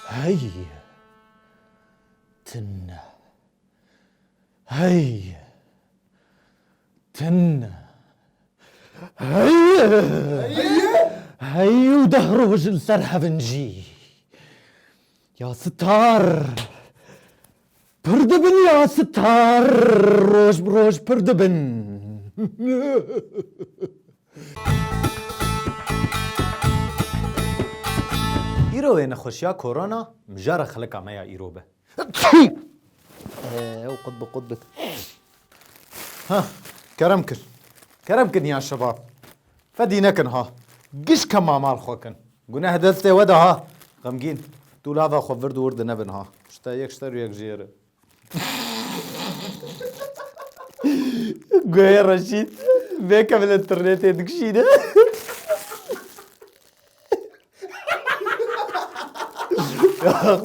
Heye tune. Heye tune. Heye. Heye û deh roj li ser hev in jî. Ya sitar. Pir dibin ya sitar roj bi roj pir dibin. Îro wê nexweşiya korona mijara xelika me ya îro be. Ew qut bi qut bi. Heh, kerem kir. Kerem kir niha şebab. Fedî nekin ha. Giş ke ma mal xwe kin. Guneh destê we de ha. Xemgîn, tu lava xwe vird û wir dinevin ha. Şite yek şiter û yek jiyê re. Guhê Reşît, vê ke bila turnê tê dikişîne.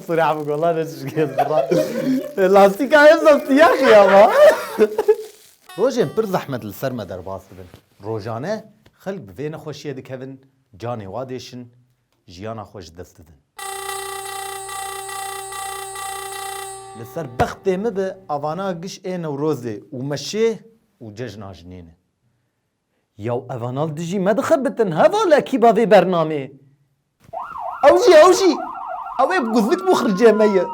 Suri abi gola ne çişkez bra. Lastika hem da siyah şey ama. Rojên pir zehmet li ser me derbas dibin. Rojane xelk bi vê nexweşiyê dikevin, canê wa diêşin, jiyana xwe ji dest didin. Li ser bextê min be avana giş ê Newrozê û meşê û cejna jinê ne. Yaw evanal dijî me dixebitin heval e kî ba vê bernamê. Ew jî ew jî. Ew ê bi guzlik bû xircê me ye.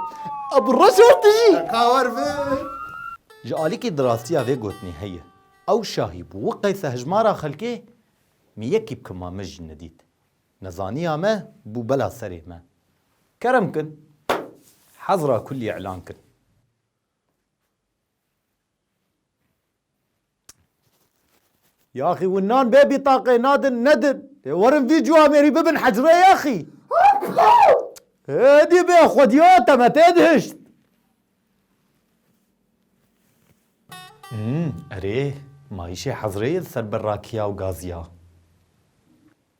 Ew bi reşor dijî. Ka war vir. Ji alîkî di rastiya vê gotinê heye. Ew şahî bû wi qeysa hijmara xelkê mi yekî bi kima me jî nedît. Nezaniya me bû bela serê me. Kerem kin. Hezra kullî îlan kin. Yaxî win nan bê bîtaqê nadin nedin. Dê werin vî cû amêrî bibin hecrê yaxî. Hêdî bê xwediya te me tê dihişt. Hmm, erê, mayîşê hezrê yê li ser berrakiya û gaziya.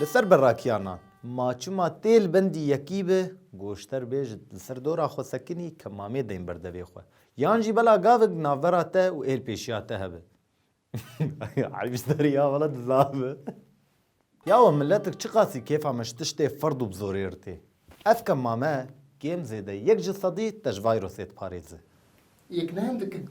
Li ser berakiyanan, ma çima tê li bendî yekî be, goşter bê ji li ser dora xwe sekinî ke mamê deyn ber devê xwe. Yan jî bela gavek di navbera te û êlpêşiya te hebe. Eyb ji te re ya wele dizav be. Ya we miletik çiqasî kêfa me ji tiştê ferd û bi zorê re tê. Ev ke mame, kêm zêde yek ji sedî te ji vayrosê diparêze. Yek ne hin dikin.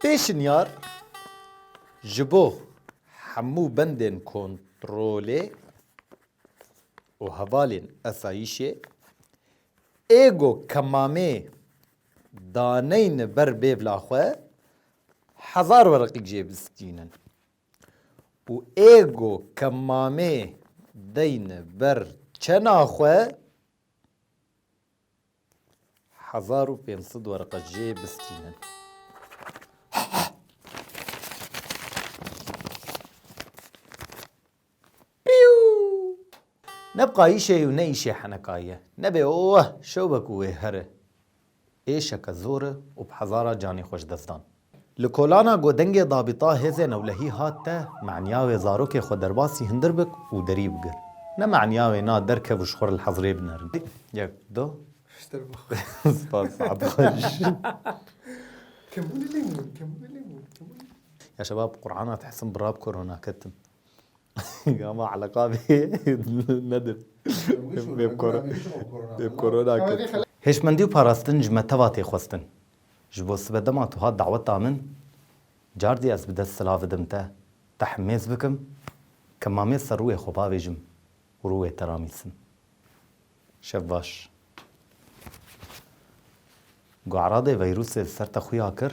Pêşinyar, Ji bo hemû bendên kontrolê û hevalên esayîşê ê go kemamê daneyne ber bêvla xwe hezar wereqî jê bistînin û ê go kemamê deyne ber çena xwe, Hezar û pênc sed werqe jê bistînin. Ne bi qayîşê û ne îşê heneka ye. Nebê oh şewbe ku wê here. Êşeke zor e û bi hezara canê xwe ji dest dan. Li kolana ku dengê dabîta hêzên ewlehî hat te, meniya wê zarokê xwe derbasî hindir bik û derî bigir. Ne meniya wê na derkev û ji xwe re li hezirê binerin. Yek, du. Piştre bû. Spas, saet xweş. Kemûnê lê mûn, kemûnê lê mûn, kemûnê. Ya şebab, Qur'ana dihsim bi rab korona ketim. Ama eleqa bê nedir. Bê bi korona ketim. Hêşmendî û parastin ji me teva tê xwestin. Ji bo sibe dema tu hat daweta min, cardî ez bi dest silav bidim te, te himêz bikim, kemamê ser rûyê xwe bavêjim û rûyê te ramîsim. Şev baş. Gueradê veyrûsê li ser te xuya kir,